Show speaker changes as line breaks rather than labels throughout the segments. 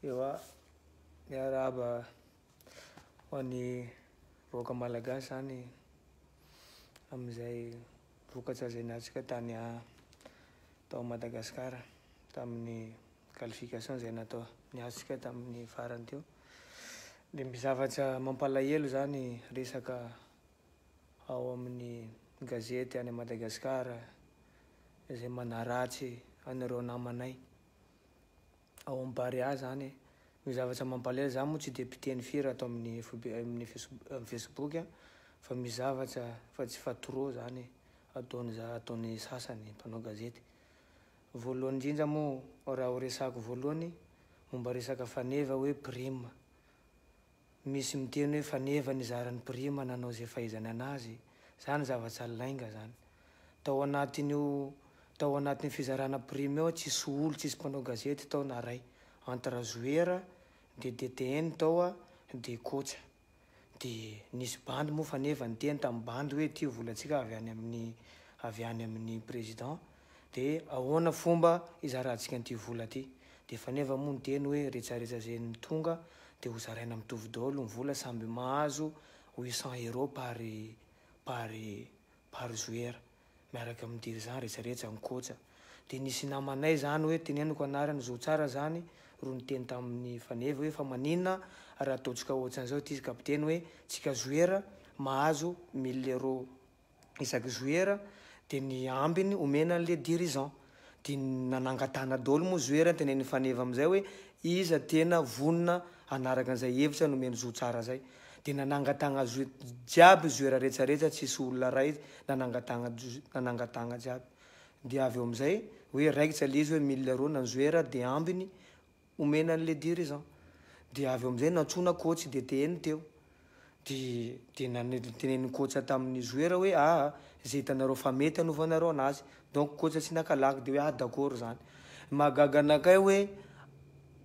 Ewa, miarahaba ho an'ny vahoaka malagasy zany amin'izay vokatra izay niatrika tany tao Madagascar tamin'ny qualification izay natao niatrika tamin'ny farany teo. Dia ny zavatra mampalahelo zany resaka ao amin'ny gazety any Madagasikara izay manaratsy an'ireo namanay ao amin'ny Barea izany no zavatra mampalahelo. Izaho moa tsy dia mpiteny firy ato amin'ny FB, amin'ny Facebook fa misy zavatra fa tsy fa trop izany ataon'ny za, ataon'ny sasany mpanao gazety. Voalohany indrindra moa raha horesahako voalohany momba resaka faneva hoe prime. Misy miteny hoe faneva nizara ny prime nanao izay fahaizany anazy, zany zava-tsaly lainga zany. Tao anatin'io tao anatin'io fizarana prime io tsisy olo tsisy mpanao gazety tao na ray, entre jouera de DTN tao a de coach. De nisy bandy moa faneva niteny tamin'ny bandy hoe ity volantsika avy any amin'ny avy any amin'ny président. de ahoana fomba hizarantsika an'ity vola ity? de efa neva moa ny teny hoe retsaretsa ze ny tonga de ho zaraina mitovy daolo ny vola samby mahazo huit cent euro par par par joueur miaraka amin'ny dirigeant retsaretsa ankoatsa de nisy namanay zany hoe teneniko anarany zo tsara zany ro niteny tamin'ny faneva hoe fa manina raha ataontsika otsan'izao ity kapiteny hoe tsika joueur mahazo mille euro isaky joueur de ny ambiny omena anle dirigeant de nanangatahana daholo moa joueur tenenin'i Faneva amizay hoe iza tena vonona hanaraka anizay hevitra nomeny zo tsara zay de nanangatahagna jiaby joueur retsaretsra tsisy olona ray nanangatahagna nanangatahagna jiaby de avy eo amizay hoe raikitra le izy hoe mille rona ny joueur de ambiny Omena an'i Lady re zan. Dia avy eo amin'izay nantsoina coach dia teheny teo. Dia notenenin'i coach tamin'ny joueur hoe ah izay hitanareo fa mety hanovanareo anazy. Donc coach tsy naka lagy dia hoe ah d'accord izany. Ny mahagaga anakay hoe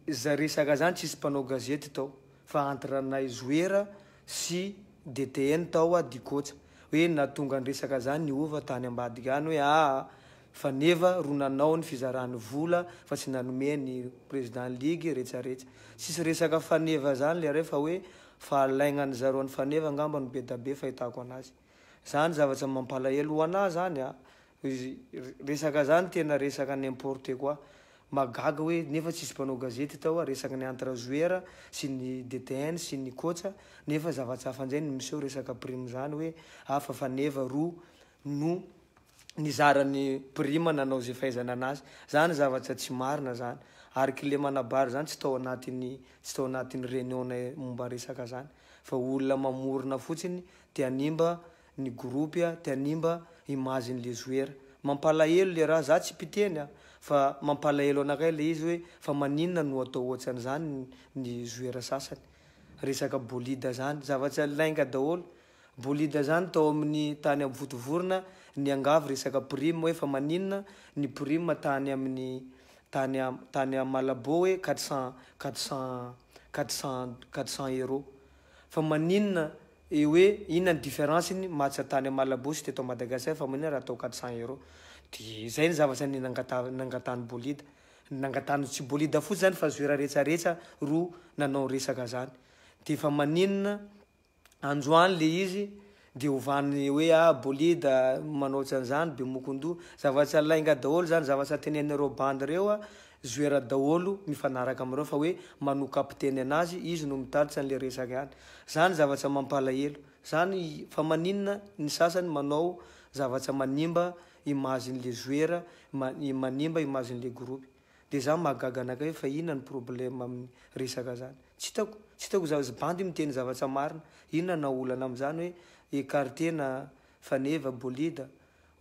izay resaka izany tsisy mpanao gazety tao fa entre anay joueur sy DTN tao aho dia coach. Hoe nahatonga ny resaka izany niova tany ambadika any hoe ah. Fa neva ro nanao ny fizarany vola fa tsy nanome ny president ligue retsaretsy tsisy resaka faneva zany leray fa hoe fa alaignany zareo any faneva ngamba no bedabe fahitako anazy zany zavatra mampalahelo ho anah zany a resaka zany tena resaka n'importe quoi magaga hoe nefa tsisy mpanao gazety tao a resaka ny entre joueur sy ny DTN sy ny coach nefa zavatra hafa njay no miseho resaka prime zany hoe a fa faneva ro no nizara ny prime nanao ze fahaizana anazy zany zavatra tsy marina zany ary kle manabary zany tsy tao anatiny tsy tao anatiny reunion nay momba resaka zany fa olona mamorona fotsiny te hanimba ny groupe a te hanimba image ny le joueur mampalahelo le raha za tsy mpiteny a fa mampalahelo anakay le izy hoe fa maninona no atao ohatrany zany ny joueur sasany resaka bolida zany zavatra lainga daholo Bolida zany tao amin'ny tany amvotovorona niangavy resaka prime hoe fa maninona ny prime tany amin'ny tany am tany am Malabo hoe quatre cent quatre cent quatre cent quatre cent euro fa maninona et hoe inona ny difference ny match tany am Malabo sy teto am Madagascar fa maninona raha atao quatre cent euro de zay ny zavatra ny nangataha nangatahan'i Bolida nangatahan'i tsy Bolida fotsiny zany fa Zoera rehetra rehetra ro nanao resaka zany de fa maninona androany le izy de ovan'ny hoe a bolida manao tsy an'zany bemokondoha zava tsy lainga daholo zany zavatra tenenin'ireo bandy ireo a zoera daholo mifanaraka amin'ireo fa hoe manoa kapiteny anazy izy no mitatitra an'le resaka ihany zany zavatra mampalahelo zany fa maninona ny sasany manao zavatra manimba imazin'le zoera manimba imazin'le groupe Dia za mahagaga anakay hoe fa inona ny problème amin'ny resaka zany? Tsy hitako, tsy hitako za izy bandy miteny zavatra marina, inona na olana amin'izany hoe écarter na faneva, bolida?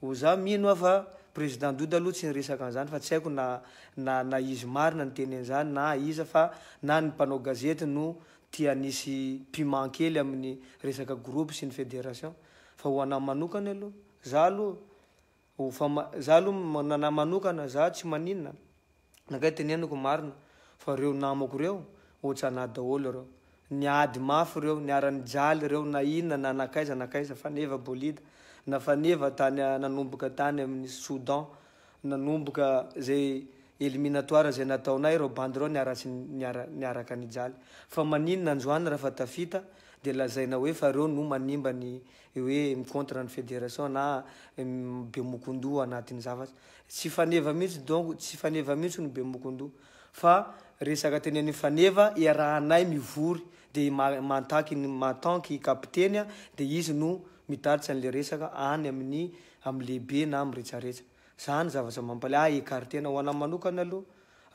O za mino aho fa président Dodo aloha tsy niresaka an'izany fa tsy haiko na na na izy marina ny teny an'izany na iza fa na ny mpanao gazety no tia hanisy piment kely amin'ny resaka groupe sy ny fédération fa ho anah manokany aloha za aloha Ho fama, za aloha ma, nanahy manokana za tsy maninona, nakay teneniko marina fa reo namako reo otsanah daholo reo, niady mafy reo, niara nijaly reo na inona na nakaiza nakaiza, faneva bolida, na faneva tany a, nanomboka tany aminy soudan, nanomboka zay eliminatoire zay nataonay reo bandy reo niara tsy niara niaraka nijaly, fa maninona androany rafa tafita de lazaina hoe fa reo no manimba ny hoe mi-contre ny federation na bemokondoha anatin'ny zavatra. Tsy faneva mihitsy donc, tsy faneva mihitsy ny bemokondoha fa resaka teneniny faneva iarahanay mivory dia i Mantaky en tant que kapiteny dia izy no mitatitra an'ilay resaka any amin'ny amin'ny lehibe na amin'ny retraretra. Zany zavatra mampalahelo ahy écarter-na ho anahy manokana aloha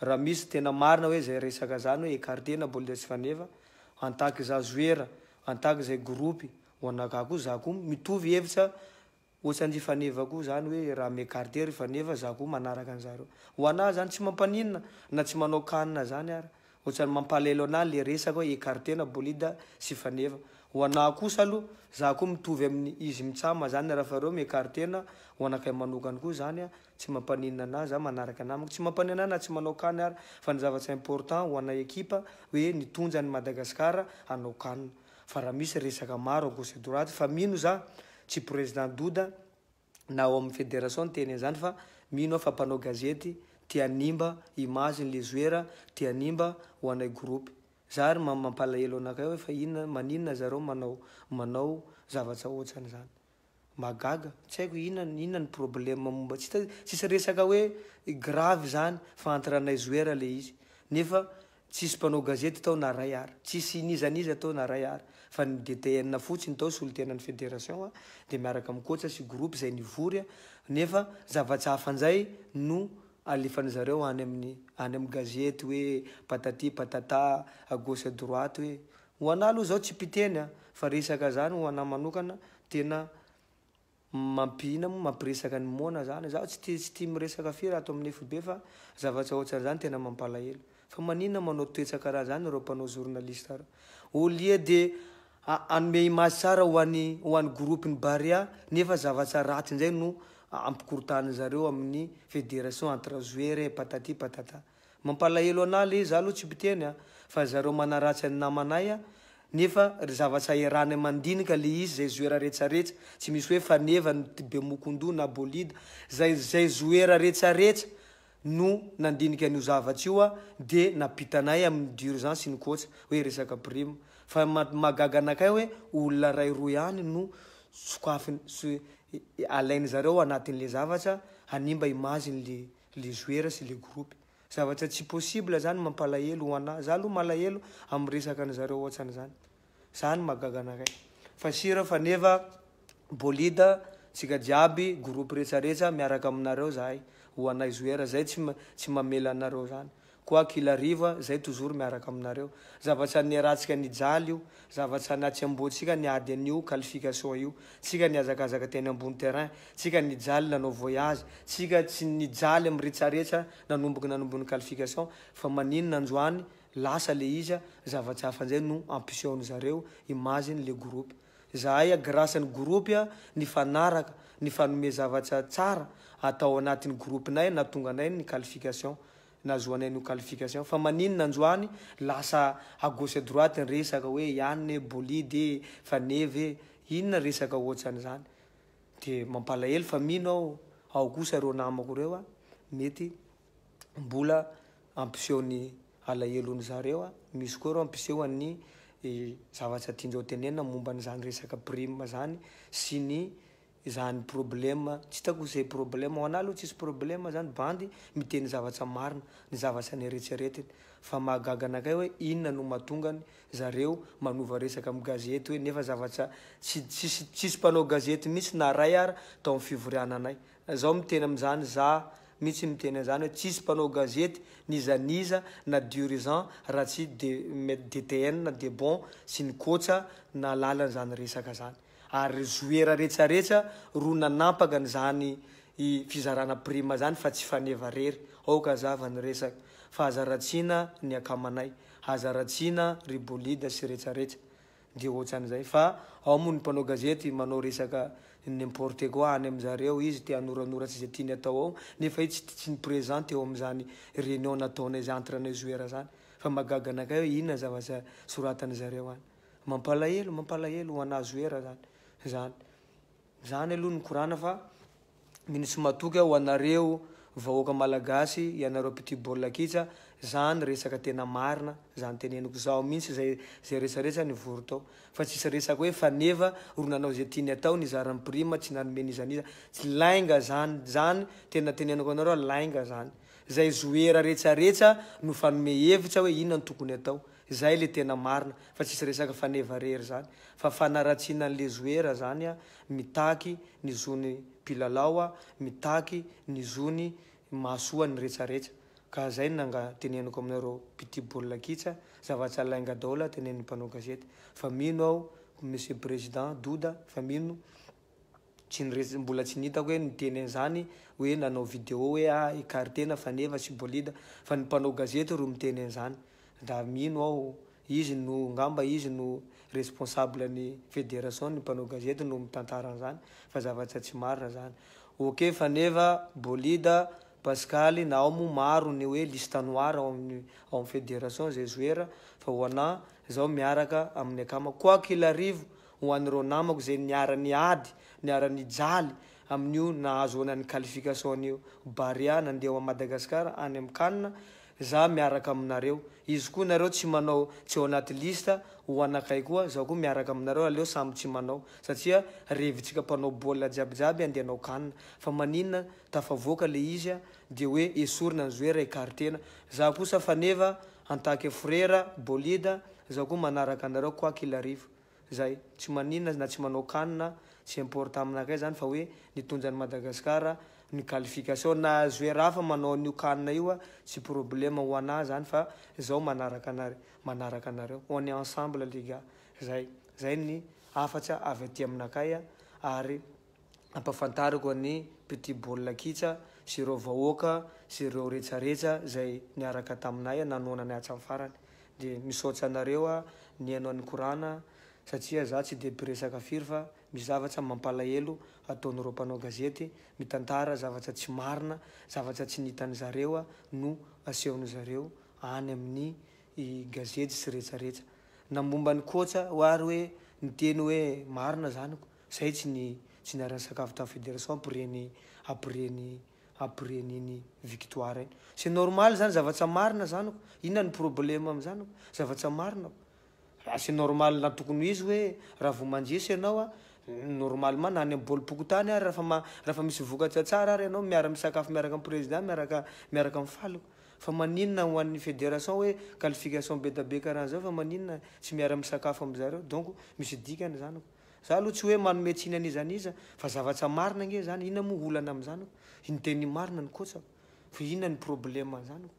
raha misy tena marina hoe zay resaka zany hoe écarter-na baolina tsy faneva en tant que za joueur, en tant que zay groupe, Ho an'Ragaha koa za koa mitovy hevitra ohatran'ry Faneva koa zany hoe raha mi-ecarte ry Faneva za koa manaraka an'zareo. Ho anah zany tsy mampaninona na tsy manao kanina zany ara. Ohatran'ny mampalahelo anah le resaka hoe ecarte-na Bolida sy Faneva. Ho anah kosa aloha za koa mitovy amin'ny izy mitsam zany rafa reo mi-ecarte-na ho anakay manokana koa zany a tsy mampaninona anah za manaraka namako tsy mampaninona anah na tsy manao kanina ara fa ny zavatra important ho anay ekipa hoe nitondra an'i Madagascar hanao kanina. fa raha misy resaka maro à gauche et droite fa mino za tsy président Doda na ao amin'ny fédération niteny an'izany fa mino aho fa mpanao gazety te hanimba image ny le joueur te hanimba ho anay groupe za ary mampalahelo anakay hoe fa inona maninona zareo manao manao zavatra otsan'izany Mahagaga, tsy haiko inona inona ny problème momba tsy hita tsisy resaka hoe grave zany fa entre anay joueur le izy nefa tsisy mpanao gazety tao na ray ary tsisy n'iza n'iza tao na ray ary fa ny DTN fotsiny tao solontenan'ny fédération a de miaraka amin'ny coach sy groupe zay nivory a nefa zava-tsy hafa njay no alefan'ny zareo any amin'ny any amin'ny gazety hoe patati patata à gauche à droite hoe Ho anah aloha zao tsy mpiteny a, fa resaka zany ho anah manokana tena mampihina moa mampiresaka ny moana zany, zaho tsy tia tsy tia miresaka firy ato amin'ny FB fa zavatra ohatran'izany tena mampalahelo. Fa maninona manao toetsa karaha zany ireo mpanao journaliste ireo? Au lieu de hanome image tsara ho an'i ho an'ny groupe ny Barea nefa zavatra ratsy indray no ampikorontan'ny zareo amin'ny federation entre joueurs patati patata. Mampalahelo anah lé za aloha tsy mpiteny a fa zareo manaratsy an'ny namanay a nefa ry zavatsa iarahany mandinika lé izy zay zoera retsaretsa tsy misy hoe faneva ny be mokondoha na bolida zay zay zoera retsaretsa no nandinika an'io zavatra io a de napitanay amin'ny durgent sy ny kôtsa hoe resaka prime fa mahagaga anakay hoe olona ray roa ihany no sokafiny alainy zareo anatin'le zavatra hanimba image-ny le le joueur sy le groupe. Zavatra tsy possible zany mampalahelo ho anah. Za aloha malahelo am resaka ny zareo ohatsany zany. Zany mahagaga anakay. Fa sira fa neva bolida tsika jiaby groupe retsaretsa miaraka aminareo zahay ho anay joueur zay tsy tsy mamela anareo zany. Quoi qu'il arrive, zay toujours miaraka aminareo. Zavatra niarahantsika nijaly io, zavatra natsiamboantsika niady an'io qualification io. Tsika nihazakazaka teny ambony terrain, tsika nijaly nanao voyage, tsika tsy nijaly miretsaretsa nanomboka nanombon'ny qualification, fa maninona androany lasa le izy, zavatra hafa njay no ampisehoan'i zareo, imagine le groupe. Zahay a grâce ny groupe a nifanaraka, nifanome zavatra tsara atao anatin'ny groupe-nay nahatonga anay ny qualification. nahazoanay no qualification fa maninona androany lasa à gauche à droite ny resaka hoe Yann e, Bolide e, Faneva e, inona resaka ohatran'izany de mampalahelo fa mino aho ao kosa ireo namako ireo a, mety mbola hampiseho ny alahelony zareo a, misy koa ireo hampiseho an'ny zavatra tiandreo tenenina momba an'izany resaka prime zany sy ny Izany problème tsy hitako ze problème ho anah aloha tsisy problème zany bandy miteny zavatra marina ny zavatra neretseretiny fa mahagaga anakay hoe inona no matongany zareo manova resaka am gazety hoe nefa zavatra tsy tsisy tsisy mpanao gazety mitsy na ray ara tao am fivoriana anay na zaho miteny am zany zah mitsy miteny an zany hoe tsisy mpanao gazety n'iza n'iza na dirigeant raha tsy de DTN na debon sy ny koatsa nahalala an zany resaka zany. Ary zoera retsaretsa ro nanampaka an'izany fizarana prime zany fa tsy faneva rery, aoka azava ny resaka, fa aza ratsina ny akamanay, aza ratsina ry bolida sy retsaretsa, de otsan'izay, fa ao moa ny mpanao gazety manao resaka n'importe quoi any amin'zareo, izy te hanoranora tsy ze tiany atao ao, nefa izy tsy ni present teo amin'izany reunion nataonay zay entre anay zoera zany, fa mahagaga anakay hoe inona zavatra soratan'zareo any. Mampalahelo mampalahelo ho anah Zoera zany zany zany aloha nikorana fa mino tsy matoky aho ho anareo vahoaka malagasy ianareo mpitia baolina kitsa zany resaka tena marina zany teneniko zaho mintsy zay zay resaretsa nivory tao fa tsisy resaka hoe faneva ro nanao ze tiany atao nizara ny prime tsy nanome n'iza n'iza tsy lainga zany zany tena teneniko anareo lainga zany zay Zoera retsaretsa no fanome hevitra hoe inona no tokony atao Izay le tena marina fa tsisy resaka faneva irery zany fa fanaratsiana an'i le zoera zany a, mitaky ny zony mpilalao a, mitaky ny zony mahasoa ny retraretra ka zay no nga teneniko aminareo mpitia baolina kits a, zavatsa lainga daolo a, tenenin'ny mpanao gazety fa mino aho Monsieur Président Doda fa mino Tsy niresy, mbola tsy nitako hoe niteny an'izany hoe nanao video hoe ah écarter-na faneva sy bolida fa ny mpanao gazety ro miteny an'izany. Raha mino aho, izy no, ngamba izy no responsable ny federation ny mpanao gazety no mitantara an'izany fa zavatra tsy marina zany. Ok faneva, bolida, pasikaly na ao moa maro ny hoe liste noire ao amin'ny ao amin'ny federation zay zoera fa ho anah, zaho miaraka amin'ny akamako quoi qu'il arrive Ho an'ireo namako izay niara-niady, niara-nijaly amin'io nahazoana ny qualification io, Barea nandeha ho an'i Madagasikara any amin'ny Can, izaho miaraka aminareo. Izy koa nareo tsy manao, tsy ao anaty liste ho anakay koa, izaho koa miaraka aminareo, aleo samy tsy manao, satria revitsika mpanao baolina jiabijiaby handeha hanao Can, fa maninona tafavoaka ilay izy dia hoe esorina ny joueur, ecarter-na. Izaho kosa faneva, en tant que frera, bolida, izaho koa manaraka anareo quoi qu'il arrive. Zay. Tsy maninona na tsy manao can na tsy importe aminakay zany fa hoe nitonja an'i Madagascar ny qualification na joueur hafa manao an'io can io tsy problème ho anah zany fa zaho manaraka anare manaraka anareo on est ensemble les gars. Zay. Zay ny hafatsa avy aty aminakay ary. ampafantariko an'i Petit Baolina Kitsa sy ireo vahoaka sy ireo retsaretsa izay niaraka taminay an nanoana anay hatramin'ny farany. Dia misaotsa anareo an nihaino an'i Korana satria za tsy dia mpiresaka firy fa misy zavatra mampalahelo ataon'ireo mpanao gazety mitantara zavatra tsy marina zavatra tsy nihitan'i zareo no asehon'i zareo any amin'ny gazety sy retsaretsa na momba an'i Kotsa hoary hoe niteny hoe marina zany ko Zay tsy ny tsy niaran'ny sakafo tamin'ny federation après ny après ny après ny iny victoire iny. C'est normal zany zavatsa marina zany ko. Inona ny problème amin'izany ko? Zavatsa marina ko. Raha c'est normal na tokony ho izy hoe raha vao mandresy ianao a, normalement na any amin'ny baolim-pokontany ary rafa ma- rafa misy vokatra tsara ary ianao miara misakafo miaraka amin'ny président miaraka miaraka mifaly ko. Fa maninona ho an'ny federation hoe qualification be da be karaha an'izao fa maninona tsy miara misakafo amin'izareo. Donc misy dikany zany ko. Za aloha tsy hoe manome tsiny an'iza n'iza fa zavatsa marina ange zany, inona moa olana am'zany oh? Iny teny marina ny coach oh. Fa inona ny problème an'zany oh?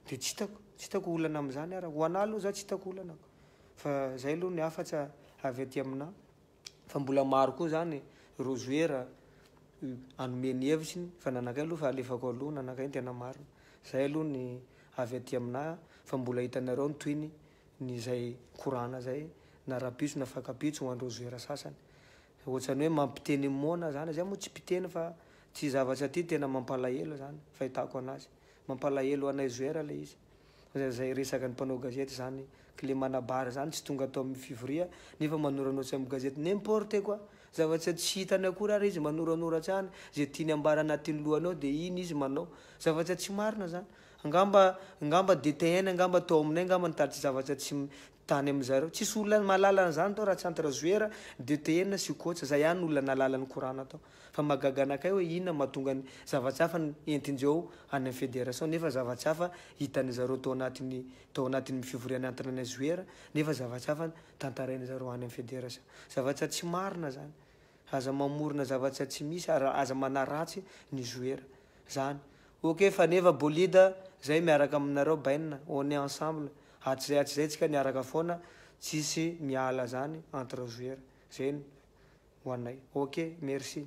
De tsy hitako, tsy hitako olana am'zany ara. Ho anah aloha za tsy hitako olana ko. Fa zay aloha ny hafa tsa avy aty aminah. Fa mbola maro koa zany ireo joueur hanome ny hevitriny fa ny anakay aloha fa alefako aloha ny anakay ny tena marina. Zay aloha ny avy aty aminah fa mbola hitanareo ny tohiny ny zay korana zay na rabitso na fakabitso ho andreo zoera sasany ohatsany hoe mampiteny moana zany zay moa tsy mpiteny fa ty zavatra ty tena mampalahelo zany fahitako anazy mampalahelo anay zoera le izy fa zay resaka ny mpanao gazety zany ko le manabary zany tsy tonga atao amin'ny fivoria nefa manoranotsa amin'ny gazety n'importe quoi zavatra tsy hitany akory ary izy manoranoratra any ze tiany ambara anatin'ny lohany ao de iny izy manao zavatra tsy marina zany Angamba angamba DTN angamba tao aminay angamba nitady zavatra tsy tany amin zareo. Tsisy olona mahalala an'izany tao raha tsy entre joueur, DTN sy coach. Zay ihany no olona nahalala ny korana tao. Fa mahagaga anakay hoe inona mahatonga ny zava-tsy hafa no entin-dreo any amin'ny federation nefa zava-tsy hafa hitan'ny zareo tao anatin'ny tao anatin'ny fivoriana entre anay joueur nefa zava-tsy hafa no tantarain'ny zareo any amin'ny federation. Zava-tsy tsy marina zany. Aza mamorona zava-tsy tsy misy ary aza manaratsy ny joueur. zany ok fa nefa bolida zay miaraka aminareo bain on est ensemble hatrizay hatrizay tsika niaraka foana tsisy miala zany entre joueur zay no ho anay ok merci.